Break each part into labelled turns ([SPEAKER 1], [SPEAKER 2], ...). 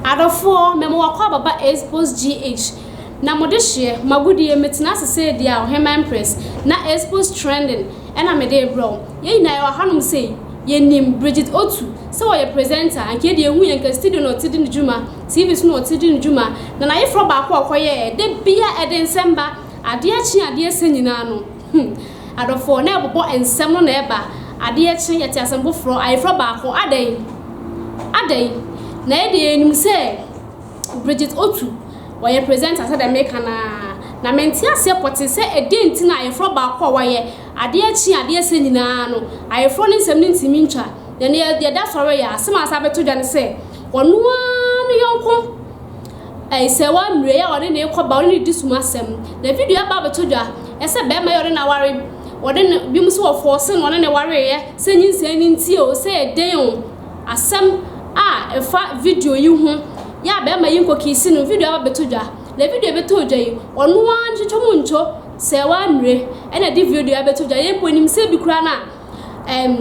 [SPEAKER 1] Adɔfoɔ, mɛ mo wakɔ ababa Aesopos GH, na mo de hyeɛ, mo agodie, me tena ase sɛ deɛ a ɔhemmaa mpress, na Aesopos trending, ɛna me de rebrɛ wo. Yɛn nyinaa yɛwɔ hanom sei, yɛnim, Bridget Otu, sɛ ɔyɛ presenter, anka yɛn deɛ yɛhu yɛn nka studio na ɔte di ne dwuma, TV so na ɔte di ne dwuma, na n'ayeforɔ baako a ɔkɔyɛɛ, da biara ɛde nsɛm ba, adeɛ kye a adeɛ sa nyinaa no, hmm, adɔfoɔ, na ɛbobɔ nsɛm no na ɛba, adeɛ kye, yɛte asɛm foforɔ, ayeforɔ baako, adɛn? Adɛn? Na yɛ deɛ yɛnim sɛ Bridget Otu, ɔyɛ presenter sɛdeɛ meka no ara, na mente aseɛ pɔtee sɛ ɛdeɛn nti na ayeforɔ baako a wayɛ, adeɛ kye a adeɛ sa nyinaa no, ayeforɔ no nsɛm no ntumi ntwa, na ɛnnɛ yɛda sɔre yɛ a, asɛm a asan bɛto dwa ne sɛ, Ɔno ara no yɔnko Ayisayewa Mire a ɔne no rekɔba, ɔne no redi sum asɛm. Na video aba abɛtɔ dwa sɛ barima yi a ɔne no aware, ɔne no, binom nso wɔ fɔɔse na ɔne no wareeɛ, sɛ nyinsɛn no nti o, sɛ yɛ dɛn o. Asɛm a ɛfa video yi ho yɛ a barima yi nkɔkiisi no, video aba abɛtɔ dwa. Na video a ɛbɛtɔɔ dwa yi, ɔno ara no, Twetwɔm Ntwo Sayewa Mire na ɛde video yi abɛtɔ dwa. Yɛn mpo, yɛnim sɛ bi koraa no a, ɛɛm,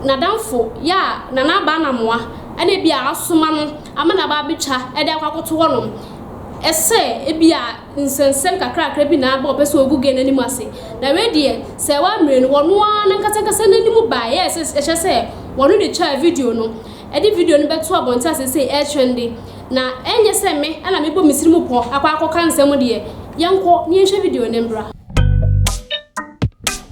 [SPEAKER 1] n'adamfo yɛ a na n'aba anamoa ɛna ebi a asoma no ama no aba abɛtwa ɛde akɔ akɔto hɔ nom ɛsɛ ebi a nsɛnsɛm kakrakra bi na aba ɔpɛ sɛ ɔgu gɛɛ n'anim ase na wei deɛ sɛ ɛwɔ amire no wɔno ara nankasa ankasa n'anim ba ɛyɛ sɛ ɛhyɛ sɛ wɔno de twaa video no ɛde video no bɛto abɔnte ase sɛ ɛɛtwɛn de na ɛnyɛ sɛ me ɛna mebɔ me siri mu pɔ akɔ akɔka nsɛm deɛ yɛnkɔ ne yɛnhwɛ video no mbra.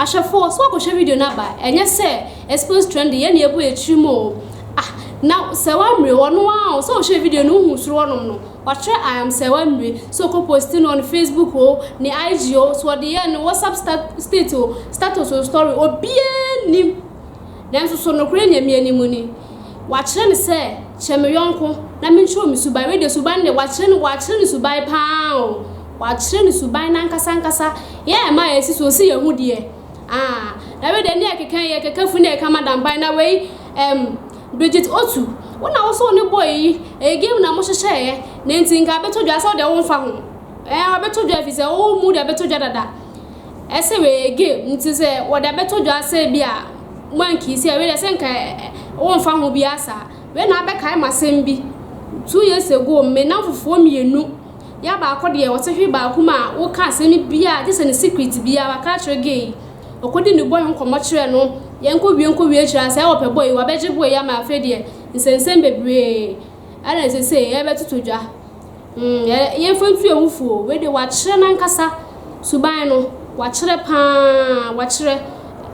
[SPEAKER 1] Ahwɛfoɔ, so woakɔhwɛ video no aba? Ɛnyɛ sɛ Exposed Trendy yɛn na yɛbɔ akyiri mu o. Ah, na sɛ woammire, ɔno ara o, sɛ wohwɛɛ video no wohuu soro hɔnom no, watwerɛ I am sɛ woammire, sɛ ɔkɔ posti no on Facebook o, ne IG o, sɛ ɔde yɛɛ ne WhatsApp stat state o, status o, story, obiara nnim. Nanso so nokorɛ nya me anim ni? Wɔakyerɛ no sɛ kyɛ me yɔnko na menkyerɛ wo me suban. Wei deɛ suban no deɛ wɔakyerɛ no, wɔakyerɛ no suban pa ara o. Wɔakyerɛ no suban no ankasa ankasa. Yɛn a ɛma a yɛasi so no, se yɛhu deɛ aah. Na wei deɛ ne yɛkeka yi, yɛkeka funu na yɛka madam ban. Na wei ɛm Bridget Otu, wo na wo se wo ne boy yi, ɛyɛ game na mohyehyɛeɛ na enti nka abɛtɔ dwa sɛ wo deɛ womfa ho. Ɛɛ abɛtɔ dwa ɛfiri sɛ wo mood abɛtɔ dwa dada. Sɛ weyɛ gay ntsi sɛ wɔdze abɛto dwa sɛ bi a moannkisi a wei dɛ sɛ nka wɔmmfa ho biara saa. Wei na abɛkae me asɛm bi, two years ago me namfofoɔ mmienu, yɛ a baako deɛ ɔtse hwe baako mu a woka asɛm biara a gye sɛ ne secret biara waka akyerɛ gay yi. Ɔkɔdi ne boy ho nkɔmmɔ kyerɛɛ no, yɛnkɔwie nkɔwie akyire a sɛ ɔpɛ boy yi wabɛgye boy yi ama afei deɛ nsɛnsɛm bebree. ɛna ɛsɛ sɛ yɛbɛtoto dwa. Mmmm yɛmfa ntu awufo o, wei deɛ wakyerɛ n'ankasa suban no, wakyerɛ paa, wakyerɛ.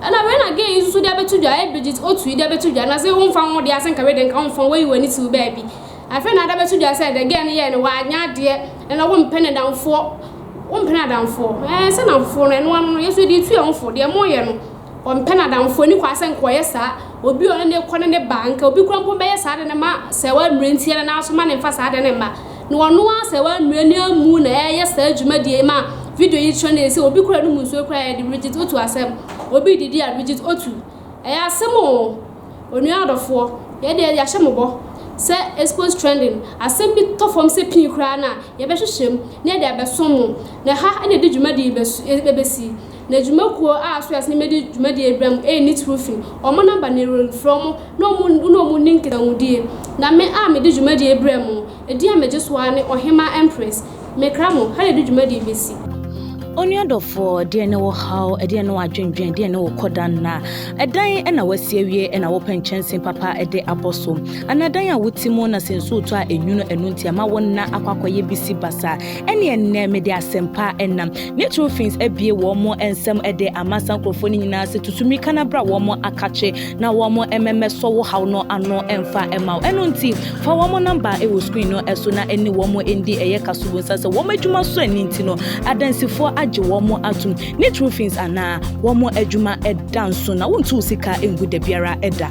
[SPEAKER 1] Ɛna wei na gay yi nso de abɛto dwa, ɛyɛ Bridget Otu yi de abɛto dwa, na sɛ womfa wo ho deɛ a sɛ nka wei deɛ nka womfa wo ho, woayi w'ani siw baabi. Afei na ade abɛto dwa sɛ deɛ gay no yɛe no, wanyɛ adeɛ, ɛna wompɛ n'adamfoɔ, wompɛ n'adamfoɔ. Ɛɛ sɛ nnamfofoɔ no, ɛno ano no, yɛn nso yɛde retu yɛn ho fo, deɛ moreyɛ no. Ɔmpɛ n'adamfoɔ ani kwa sɛ nka ɔyɛ saa, obi ɔne no rekɔ ne ne ba, nka obi koraa mpo bɛyɛ saa de no ma sɛɛwaa nnuro nti yɛ ne nan so ma no mfa saa de no mma. Na ɔno ara sɛɛwaa nnuro no amu na ɛreyɛ saa dwumadie yi ma video yi trend yɛ sɛ obi koraa nom nsuo koraa yɛ de Brigitte Otu asɛm, obi redidi a Brigitte Otu. Ɛyɛ asɛm o! Onua adɔfoɔ, yɛ deɛ yɛahyɛ mo bɔ sɛ expose trending, asɛm bi tɔ fam sɛ pii koraa no a yɛbɛhwehwɛ mu na yɛde abɛso mo, na ɛha na yɛde dwumadie yi bɛsu, ɛbɛsi. na dwuma kuo a Suez ne Mede dwumadie rebrɛ mo ɛyɛ nitiriw fi wɔn namba na ɛwɔ mfrɛ mo na wɔn ne wɔn nni nkitahudie, na me a Mede dwumadie rebrɛ mo, ɛdin a Megye so ara ne Ɔhemaa Empress, Mekra mo, ha na yɛde dwumadie bɛsi. Onua
[SPEAKER 2] dɔfoɔ, deɛn ne wo haw, ɛdeɛn ne w'adwendwen, deɛn ne wo kɔda nna? Ɛdan na woasi awie na wopɛ nkyɛnsee papa de abɔ so? Anaa dan a wote mu na sɛ nsuo retɔ a ɛnwunu ɛno nti ama wo nna akɔ akɔyɛ bisi basaa? Ɛnneɛ nnɛ Mede asɛmpa nam. ne Trofins abue wɔn nsam de ama saa nkurɔfoɔ no nyinaa sɛ tutu mmirika no abra wɔn akakye na wɔn mmɛmmɛsɔ wo haw no ano mfa mma wo. Ɛno nti, fa wɔn namba wɔ screen no so na ɛne wɔn ndi ɛyɛ kasubonsa sɛ wɔn adwuma so ani nti no adansifoɔ agye wɔn atom ne Trofins anaa wɔn adwuma da nso na wontu wo sika ngu da biara da.